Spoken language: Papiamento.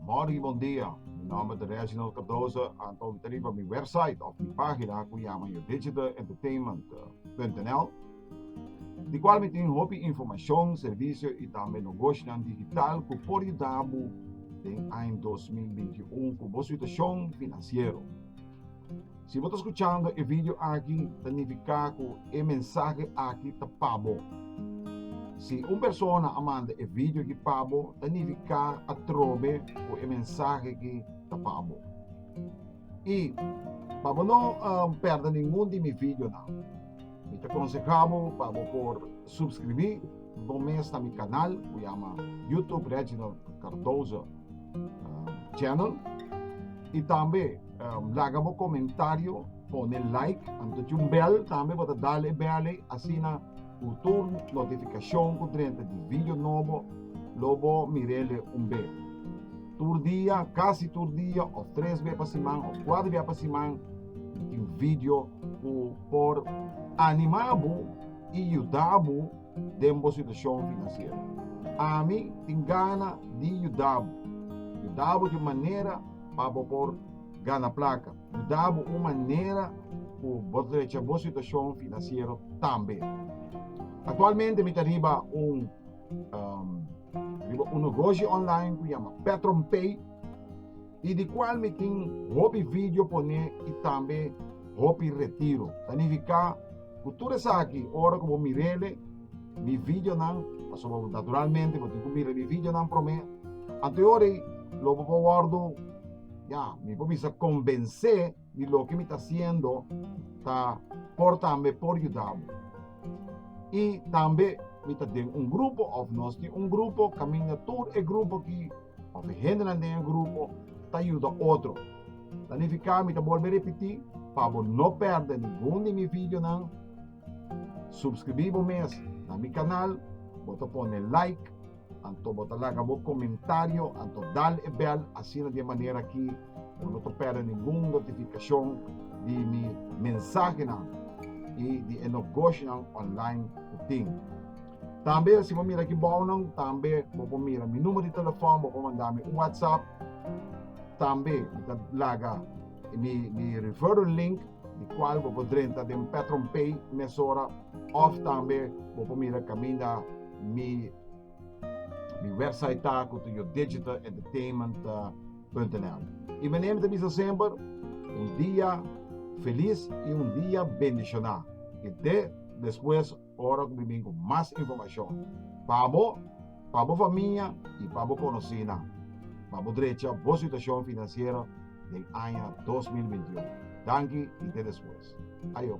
Morning bondia, mi nomber ta Reginald Cardoso, anto mi ta riba mi website of mi pagina cu yama yo digitalentertainment.nl di cual mi tin hopi informacion, servicio y tambe nogoshinan digital cu por yudabu den aña dos mil binti un cu bo situacion financiero. Si bo ta skuchando e video aki, ta nifiká ku e mensahe aki ta pa bo. Si un persona a manda e video aki pa bo, ta nifiká atrobe ku e mensahe aki ta pa bo. I pa bo no pèrdè ningun di mi videonan, mi ta konsehá bo pa bo por supskribí bo mes na mi kanal ku yama YouTube Reginald Cardoso. channel y tambe laga bo comentario pone like anto cu bel tambe bo ta dale bel asina cu tur notificacion cu drenta di video nobo lo bo mirele un be tur dia casi tur dia of tres be pa siman of cuatro be pa siman tin video cu por anima bo y yuda bo. den bo situashon finansiero. Ami tin gana di yuda bo. Yuda bo di un manera pa bo por gana plaka. Yuda bo un manera ku bo ta drecha bo situashon finansiero tambe. Aktualmente mi ta riba un riba un negoshi online ku yama Petron Pay. y di cual mi tin hopi video pone y tambe hopi retiro. Ta nifica cu tur esaki ora cu bo mirele mi videonan, pasobra naturalmente bo tin cu mira mi videonan prome, anto y ora y lo bo por wordo, ya, mi por bisa convence, di loke mi ta hasiendo ta por tambe por yuda bo. I tambe mi ta den un grupo of nos tin un grupo kaminda tur e grupo ki of e hendenan den e grupo ta yuda otro. Planifiká mi ta bolbe repetí pa bo no pèrdè ningun di mi videonan. Supskribí bo mes na mi kanal, bo ta pone like. Anto bo ta laga bo komentario, anto dal e bèl asina di e manera ki bo no ta pèrdè ningun notifikashon di mi mensahenan i di e nogoshinan online ku tin. Tambe si bo mira aki bounan, tambe bo por mira mi numer di telefòn, bo por manda mi un whatsapp. Tambe mi ta laga mi mi referral link di kual bo por drenta den Petron Pay mesora òf tambe bo por mira kaminda Mi mi website ta ku tu yo digital entertainment punto nl. I mi name ta bisa semper un dia felis i un dia bendishoná i te despues ora ku mi bin ku mas informashon pa bo, pa bo famia i pa bo konosinan pa bo drecha bo situashon finansiero den aña dos mil binti un. Danki i te despues. Ayo.